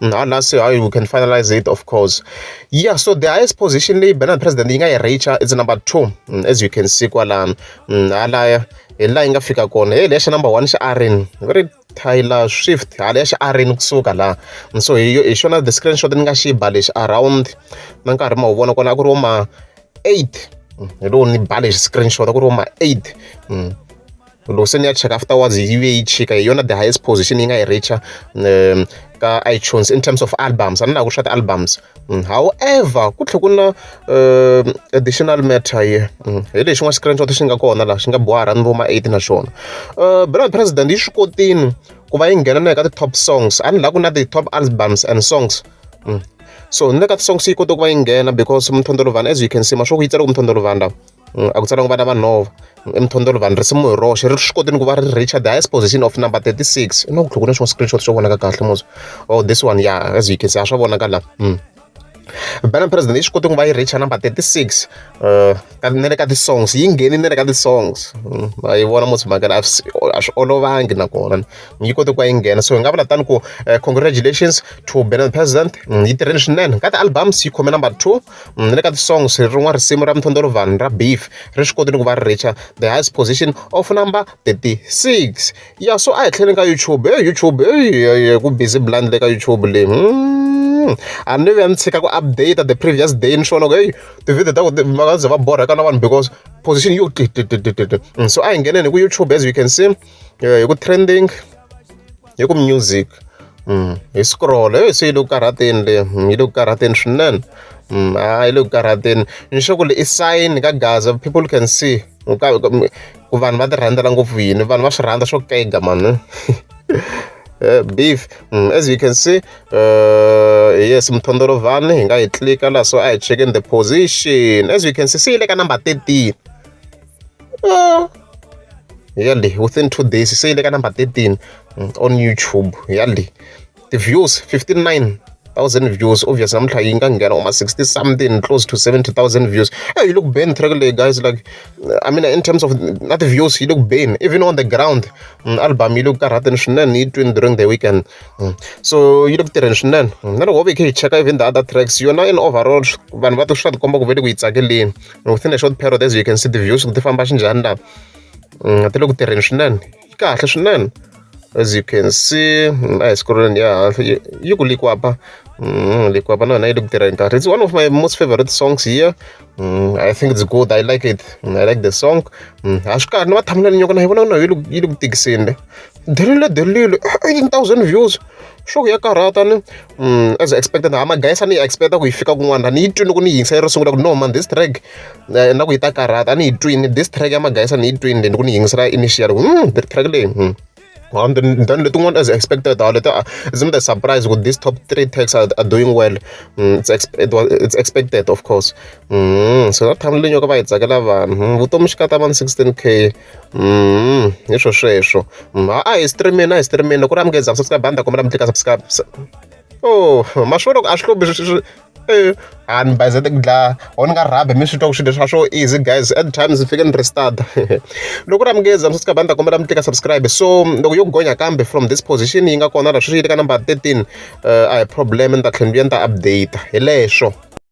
Mm, ah, nasi how you can finalize it of course yeah so the highest position leyi banana president yi nga yi reacha is number two mm, as you can see kwalano mm, halaya hi laha yi nga fika kona hey leya xa number one xa arin very Taylor Swift hala ya xiarini kusuka laha so hi hi xona the screenshot ni nga xi ba lexi around na nkarhi ma wu vona kona a ku ri wo ma eight hi lowu ni ba lexi screenshot a ku ri wo ma eight loko se ni ya cheka afterwards yi ve yi chika hi yona the highest position yi nga yi reacher um ka itunes in terms of albums a ni laha ku swa ti-albums mm, however ku tlhe ku na um additional matter ye mm, hi lexi n'wa screenshot xi nga kona laha xi nga bohara ni vo ma eight na xona um uh, bernard president yi swi kotini ku va yi nghena na eka ti-top songs a ni laha ku na ti-top albums and songs mm. so ni le ka ti-songs yi kote ku va yi nghena because mthondolovana as you can see mashoku yi tsale ku mthondolovana lawa a ku tsariwanga vana va nhova emithondolo vanhu risimu hi roxe ri swi koti ni ku va ri reacher the highest position of number 36 i na ku tlhoko na xin'wana screenshot xo vonaka kahle muzi oh this one ya as you can see a swa vonaka la hmm. Banner President yi swi koti ku va yi reacher number 36 uh, na le ka ti-songs yi ngheni na le ka ti-songs hmm. a yi vona musi mhaka a swi olovangi nakona yi koti ku va yi nghena so hi nga vula tani ku eh, congratulations to Banner President hmm, yi tirheni swinene ka ti-albums yi khome number two na le ka ti-songs rin'wana risimu ra Mthondoro Vanhu ra Beef ri swi kotile ku va ri reach-a the highest position of number thirty six ya so a hi tlheleni ka YouTube heyi YouTube heyi ku busy blind le ka YouTube leyi hmm, a ni vuya ni tshika ku update the previous day ni swi vona ku heyi tivhidiyo ta ku va nga ze va borheka na vanhu because position yo so a hi ngheneni hi ku YouTube as you can see eh, hi ku trending hi ku music mm, hi scroll eh, se yi le ku karhateni le mm, yi le ku karhateni swinene mm, a ah, yi le ku karhateni ni sure ku le i sign ka gaza people can see ku vanhu va ti rhandzela ngopfu yini vanhu va swi rhandza swo kega mani Eh, beef mm, as you can see uh, yes mthondolovhani hi nga yi tlika laha so a hi checking the position as you can see se yi le ka number 13 yali within two days se yi le ka number 13 mm, on youtube yali ti-views 59 thousand views obviously namuntlha yi nga nghena uma 60 something close to 70 thousand views hey, yi le ku beni track leyi guys like i mean in terms of na ti-views yi le ku beni even on the ground mm, album yi le ku karhateni swinene yi twini during the weekend mm. so yi le ku tirheni swinene mm. na loko ho ve khe hi cheka even the other tracks yona in overall vanhu va to swi ta tikomba ku ve le ku yi tsakeleni within a short period as you can see the views ti famba xinjhani laha mm, ti le ku tirheni swinene yi kahle swinene as you can see mm, a hi sikuruleni ya hansi yi ku likwapa mm, likwapa na yona yi le ku tirheni kahle it's one of my most favorite songs here i think it's good i like it i like the song ha swi kahle ni va thumbnail nyoko na yi vona na yi le ku tikiseni le delile delile 18000 views sure ya karhata ni mm, as expected ha magayisa ni yi expecta ku yi fika kun'wana ni yi twini loko ni yingisa yi ri sungula ku no man this track eh, na ku yi ta karhata a ni yi twini this track ya magayisa ni yi twini then ku ni yingisela initial ku mm, the track leyi mm. And then, then the one as expected, uh, later, isn't a surprise with these top three techs are, are doing well. Mm, it's, exp it was, it's expected, of course. Mm, so that time, you know, it's like 11. Mm, 16K. Mm, hi swo sweswo mm, a hi streamini a hi streamini loko ri amukele za subscribe banda kombela mi tlika subscribe oh maswo loko a swi hlobhi swi eh, a ni bayizete ku dlaya or ni nga rhabi mi swi twa ku swilo swa swo easy guys at times ni fike ni restart loko ri amukele za subscribe banda kombela mi tlika subscribe so loko yo gonya kambe from this position yi nga kona la sweswi yi le ka number 13 uh, eh, a hi problem ni ta tlhela ni ta update hi leswo